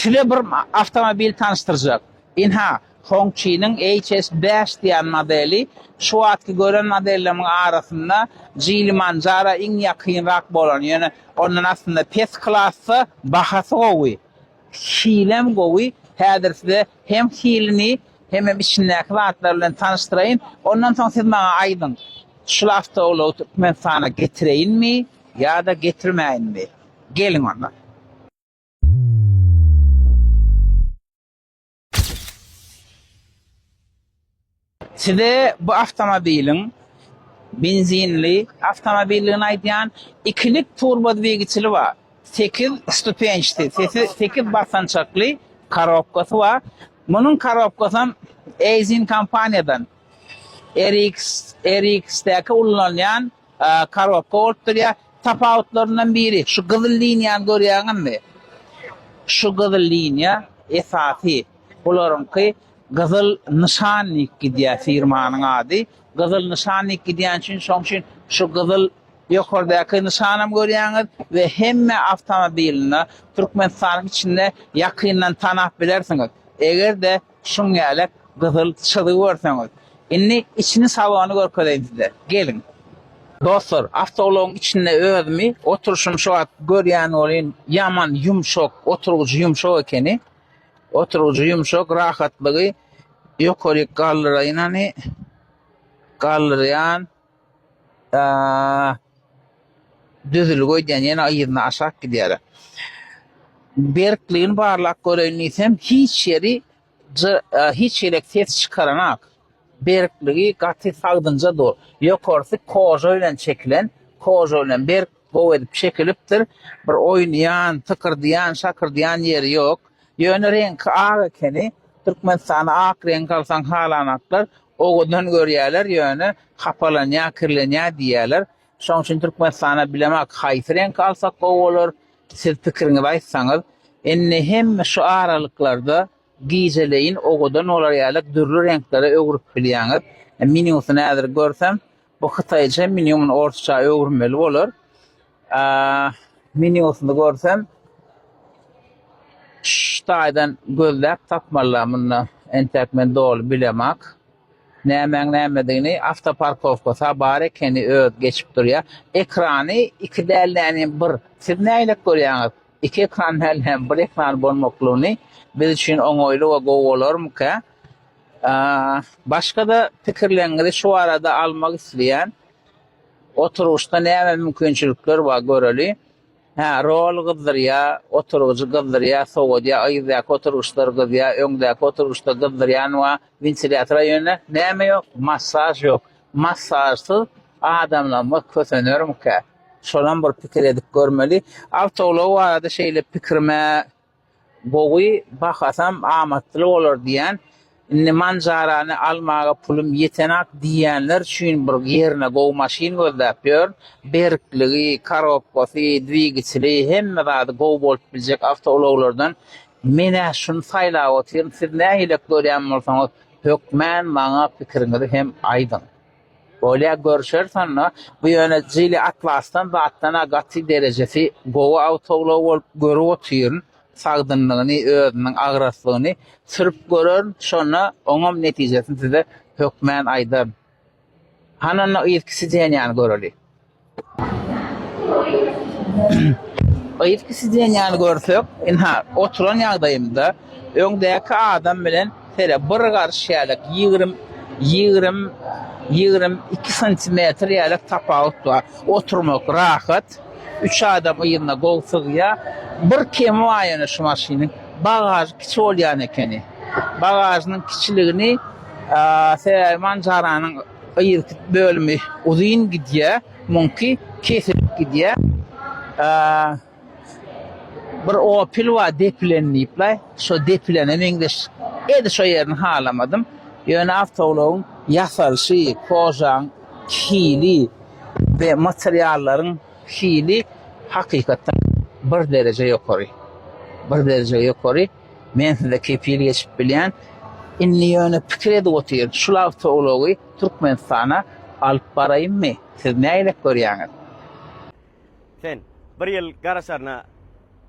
Size bir awtomobil tanyşdyrjak. Ynha, Hongqi-niň HS bäş diýen modeli. Şu wagtky gören modellerimiň arasynda Jilimanjara iň ýakynrak bolany, ýöne ondan aslynda pes klasda, bahasy gowy, hilem gowy. Häzir size hem hilini, hemem içindäki zatlary bilen tanyşdyraýyn. Ondan soň siz maňa aýdyň, şul awtoulagy Türkmenistana getireýinmi ýa-da getirmäýinmi? Geliň onda. Size bu awtomobiliň benzinli awtomobildigini aýdýan. Ikilik turbo dwigiçeli bar. Sekiz stupençdi, sekiz basançakly korobkasy bar. Munuň korobkasam Eizin kompaniýadan. RX-däki ullanylýan. Korobka bolup durýar. Tapawutlaryndan biri, şu gyzyl liniýany görýäňizmi? Şu gyzyl liniýa esasy. Bularyňky gyzyl nyşannik gidýär, firmanyň ady. Gyzyl nyşannik gidýän üçin, şoň üçin şu gyzyl ýokardäki nyşanam görýäňiz we hemme awtomobilinde Türkmenistanyň içinde ýakyndan tanap bilersiňiz. Eger-de Şuň ýaly gyzyl çyzy görseňiz. Indi içini salony görkezeýin size. Geliň. Dostlar, awtoulagyň içinde özümi, oturyşymy şu wagt görýän welin, ýaman ýumşak, oturgyjy ýumşak ekeni. Oturgyjy ýumşak, rahatlygy ýokaryk galdyraýyn hany. Galdyrýan. Düzülgi öýdýän ýene yzyna aşak gidýär. Berkligini barlap göreýin diýsem, hiç ýeri hiç ýelek ses çykaranok. Berkligi gaty sagdynja dur. Ýokarsy koža bilen çekilen, koža bilen berk, gowy edip çekilipdir. Bir oýnaýan, tykyrdaýan, şakyrdaýan ýeri ýok. Ýöne reňki ak ekeni. Türkmenistanda ak reňki alsaň halanoklar. Owadan görýärler, ýöne hapalanýar, kirlenýär diýýärler. Şonuň üçin Türkmenistana bilemok haýsy reňki alsak gowy bolar. Siz pikiriňizi aýtsaňyz. Indi hemme şu aralyklarda gijeleýin owadan bolar ýaly dürli reňklere öwrüp bilýäňiz. Menýusyny häzir görsem, Bu hytaýça meni muny orsça öwürmeli bolar. Menýusyny görsem şu taýdan gözläp tapmalylar munda. Entek men doly bilemak. Nämäň nämedigini awtoparkowkasy bar ekeni öz geçip durýar. Ekrany iki däl näni bir. Siz nägilek görýäňiz? Iki ekran däl näni bir ekran bolmaklygyny biz üçin oňaýly we gowy bolarmyka? Başga-da pikirleriňizi şu barada almak isleýän oturgyçda näme mümkinçilikler bar göreli. Hä, rol gyzdyrýar, oturgyjy gyzdyrýar, sowadýar, a yzdaky oturgyçlary gyzýar, öňdäki oturgyçda gyzdyrýan bar, wentilýatora ýöne näme ýok, massaž ýok. Massažsyz adamlarymyz kösenermikä? Şolam bir pikir edip görmeli. Awtoulagy barada şeýle pikirim-ä. Gowy bahasam amatly bolar diýýän. Indi manjarany almaga pulum ýetenak diýýänler üçin bir ýerine gowy maşyn gözläp ýörün. Berkligi, korobkasy, dwigiçeli hemme zady gowy bolup biljek awtoulaglardan men-ä şuny saýlap otyryn. Siz nähilek görýän bolsaňyz hökmän maňa pikiriňizi hem aýdyň. Bolýa görüşeris onda. Bu ýöne Jili Atlasdan zatdan-a gaty derejesi gowy awtoulag bolup görüp otyryn. Sagdynlygyny, özüniň agraslygyny sürüp görerin, şonda oňam netijesini size hökmän aýdaryn. Hany onda yzky sidenýany göreli. Yzky sideniýäni görsek, ynha, oturan ýagdaýymda öňdäki adam bilen sele bir garyş ýälek ýigrimi, ýigrimi, ýigrimi iki santimetr ýälek tapawut bar. Oturmak rahat, üç adam yzyna gowy sygýar. Bir kemi bar ýöne şu maşynyň, bagažy kiçi bolýan ekeni. Bagažynyň kiçiligini sebäbi manjaranyň, Gyz bölümi uzyn gidýä muňki kesilip gidýä bir opel bar depilen diýipler şo depilene meňzeş edi şo ýerini halamadym ýöne awtoulagyň ýasalyşy kožaň hili we materiallaryň hili hakykatdan bir dereje ýokary bir dereje ýokary. Men size kepil geçip bilýän. Indi ýöne pikir edip otyryn, şul awtoulagy Türkmenistana alyp baraýynmy? Siz nägilek görýäňiz? Sen bir ýyl garaşaryna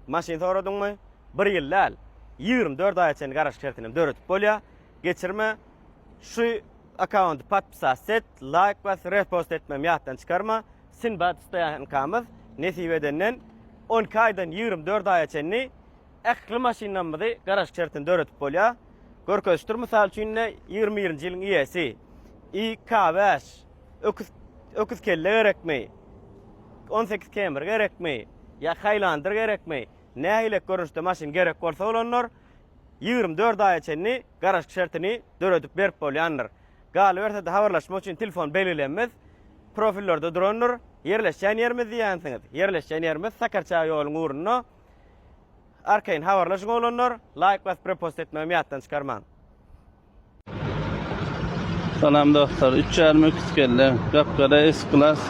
maşyn soradyňmy? Bir ýyl däl, ýigrimi dört aýa çenli garaşyk şertinem döredip bolýar. Geçirme şu akkaunty podpisast et, laýk bas, repost etmem ýatdan çykarma. Sinbad Stoýankamyz nesip edenden on iki aýdan ýigrimi dört aýa çenli Ähli maşynlarymyzy garaşyk şertinde döredip bolýar. Görkezişdir, mysal üçin-de, ýigrimi birinji ýylyň iýesi, IK bäş, öküz, öküz kelle gerekmi, on sekiz kemir gerekmi, ýa Haýlandyr gerekmi, nähilek görnüşde maşyn gerek bolsa bolandyr, ýigrimi dört aýa çenli garaşyk şertini döredip berip bolýandyr. Galyberse-de habarlaşmak üçin telefon belgilemimiz profillerde durandyr. Ýerleşýän ýerimiz diýýänsiňiz? Ýerleşýän ýerimiz Sakarçäge ýoluň ugrunda. Arkaýyn habarlaşyň oglanlar, laýk basyp repost etmegimi ýatdan çykarmaň. Salam dostlar, üç ýarym öküz kelle, gapgara S-Class,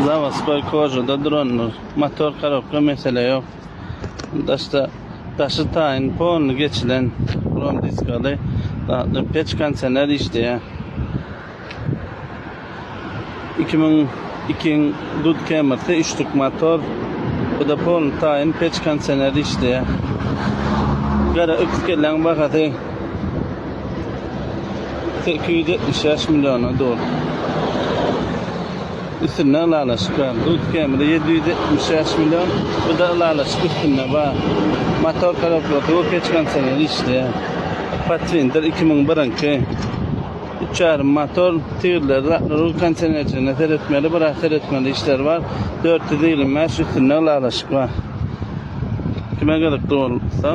zawoskoý kožada durandyr. Motor korobka mesele ýok. Daşda daşy taýyn polny geçilen, brom diskaly, peç konsener işleýär. Iki müň iki dud kemirsi, üç tük motor. Bu da polny taýyn peç kondisioner işleýär. Gara öküz kelläň bahasy sekiz ýüz ýetmiş bäş milliona dur. Üstünde ylalaşyk bar. Dud kemiri ýedi ýüz ýetmiş bäş million. Bu da ylalaşyk üstünde bar. Motor korobkasy we peç kondisioner işleýär. Pathfinder iki müň birinki. Uçar, motor, tirler, rul kondisionerçiligine seretmeli, biraz seretmeli işler bar. Dört ýüz ýigrimi bäş üstünde ylalaşyk bar. Kime gyzykly bolsa,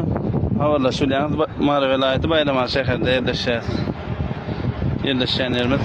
habarlaşyp bilýäňiz. Mary welaýaty Baýramaly şäherinde ýerleşýär. Ýerleşýän ýerimiz.